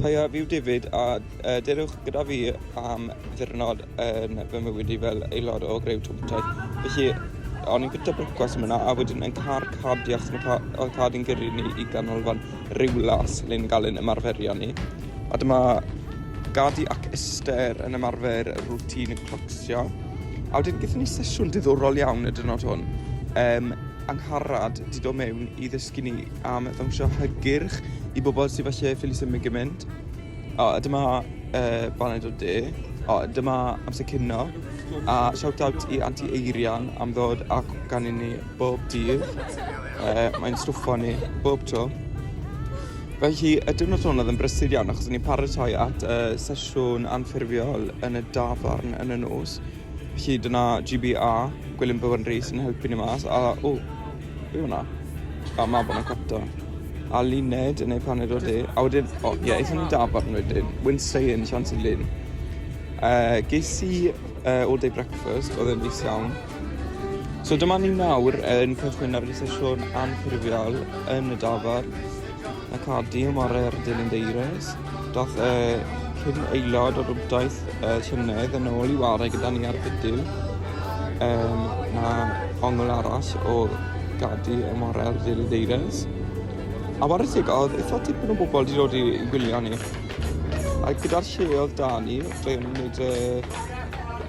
Peidiwch â diffidd a dewch gyda fi am ddiwrnod yn fy mywyd i fel aelod o Greu Twm Teg. Felly, o'n i'n bwyta brecwast yn fan'na a wedyn yn car cardiau achos mae ca- oedd car di'n gyrru ni i ganolfan Rhiwlas le ni'n cael ein ymarferion ni. A dyma Gadi ac Esther yn ymarfer routine clocsio. A wedyn gaethon ni sesiwn diddorol iawn y diwrnod hwn. Yym... Angharad 'di dod mewn i ddysgu ni am ddawnsio hygyrch i bobl sydd falle ffili symud gymaint. O, a dyma uh, baned o de. O, dyma amser cynno. A shout out i Anti Eirian am ddod ac gan i ni bob dydd. Uh, mae'n stwffo ni bob tro. Felly, y diwrnod hwn oedd yn brysur iawn achos o'n i'n paratoi at uh, sesiwn anffurfiol yn y dafarn yn y nos. Felly dyna GBA, Gwilym Bywan Rees yn helpu ni mas. A, o, be yw hwnna? A mae bod yn cwta. A Luned yn ei paned o de. A wedyn, o, ie, eithon ni dafarn wedyn. Wyn Seien, Sian Sy'n Lyn. Uh, ges i uh, all day breakfast, oedd yn is iawn. So dyma ni nawr yn cychwyn ar y sesiwn anffurfiol yn y dafar. na codi o morau ar y dilyn deires. Doth y cyn aelod o rwbdaeth y llynedd yn ôl i ware gyda ni ar bydyw um, na ongl aros o godi y morau ar y dilyn deires. A war y teg oedd eitha tipyn o bobl wedi dod i, i gwylio ni. A gyda'r lle oedd da ni, dwi'n gwneud uh,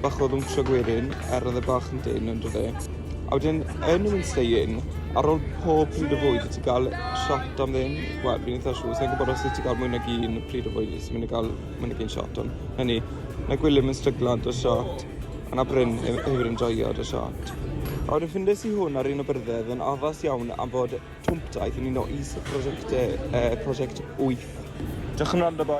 bach o ddwntio gwerin, er oedd y bach yn dyn yn dod e. A wedyn yn y Winstein, ar ôl pob pryd o fwyd, wyt ti'n cael shot am ddim? Wel, fi'n eitha siŵr, sa i'n gwybod os wyt ti'n cael mwy nag un pryd o fwyd, wyt ti'n mynd i gael mwy nag un shot, ond 'na ni. Mae Gwilym yn stryglo 'da shot, a na Bryn hef- hefyd yn joio 'da shot. A wedyn ffindes i hwn ar un o byrddau, oedd yn addas iawn am fod twmp daeth yn un o is y prosiectau, eh, prosiect wyth. Diolch am wrando, boi.